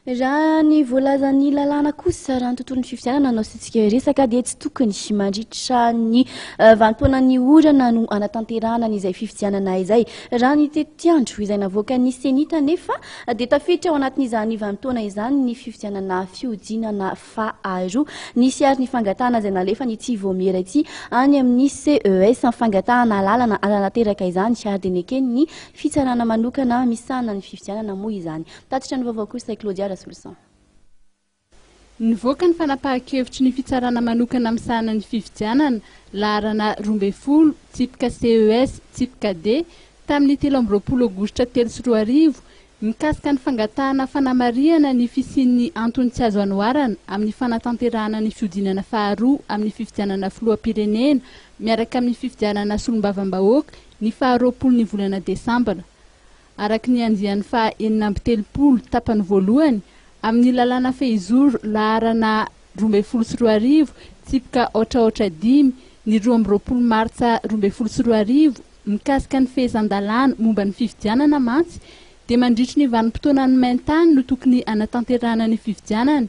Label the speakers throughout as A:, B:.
A: Raha ny voalazan'ny lalàna kosa, raha ny tontolon'ny fifidianana no asiantsika resaka, dia tsy tokony mandritra ny eh, vanimpoana ny orana no anatanterahana an'izay fifidianana izay. Raha ny tetiandro izay navoakan'ny CENI tanefa, dia tafiditra ao anatin'izany vanimpoana izany ny fifidianana fihodinana faharoa. Nisy ary ny fangatahana izay nalefan'ity vaomiera ity any amin'ny CES, ny fangatahana alalana hananateraka izany, ary dia neken'ny fitsarana manokana misahana ny fifidianana moa izany. Tatitra ny vaovao kosa i Claudia Rasoloson. Nivoaka
B: ny fanapahan-kevitry ny fitsarana manokana misahana ny fifidianana, laharana roa ambin'ny folo, tsipika CES, tsipika D, tamin'ny telo amby roapolo aogositra telo sy roa arivo, mikasika ny fangatahana fanamarihana ny fisian'ny antony tsy azo anoharana amin'ny fanatanterahana ny fihodinana faharoa amin'ny fifidianana filoham-pirenena miaraka amin'ny fifidianana solombavambahoaka ny faha roapolo ny volana desambra araka ny andiany faha enina amby telopolo tapany voalohany amin' ny lalàna fehizoro laharana roa ambin'ny folo sy roa arivo, tsipika aotraotra dimy, ny roa amby roapolo martsa roa ambin'ny folo sy roa arivo, mikasika ny fehezan-dalàna momba ny fifidianana mantsy dia mandritry ny vanim-potoanan'ny main-tany no tokony hanatanterahana ny fifidianana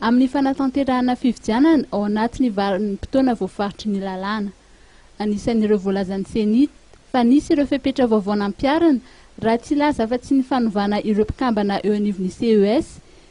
B: Amin'ny fanatanterahana fifidianana ao anatin'ny vanim-potoana voafaritry ny lalàna. Anisan'ireo voalazan'ny Ceni fa nisy ireo fepetra vaovao nampiharina, raha tsy hilaza afa-tsy ny fanovana ireo mpikambana eo anivon'ny CES,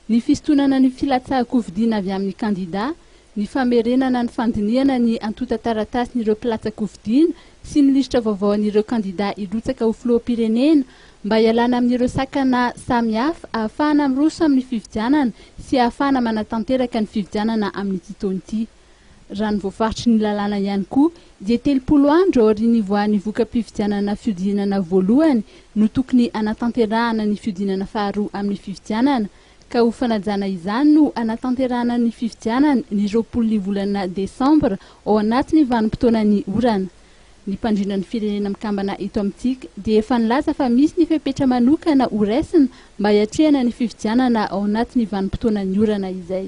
B: ny fisintonana ny filatsahan-kofidina avy amin'ny kandidà, ny famerenana ny fandinihana ny antontan-taratasin'ireo mpilatsa-kofidina sy ny lisitra vaovao an'ireo kandidà hirotsaka ho filoham-pirenena mba hialana amin'ireo sakana samihafa, ahafahana miroso amin'ny fifidianana sy ahafahana manatanteraka ny fifidianana amin'ity taona ity. Raha ny voafaritry ny lalàna ihany koa dia telopolo andro aorian'ny hivoahan'ny voka-pifidianana fihodinana voalohany no tokony hanatanterahana ny fihodinana faharoa amin'ny fifidianana ka ho fanajana izany no hanatanterahana ny fifidianana ny roapolo ny volana desambra ao anatin'ny vanim-potoanan'ny orana Ny mpandrindra ny Firenena Mikambana eto amintsika dia efa nilaza fa misy ny fepetra manokana horaisina mba hiatrehana ny fifidianana ao anatin'ny vanim-potoanan'ny orana izay.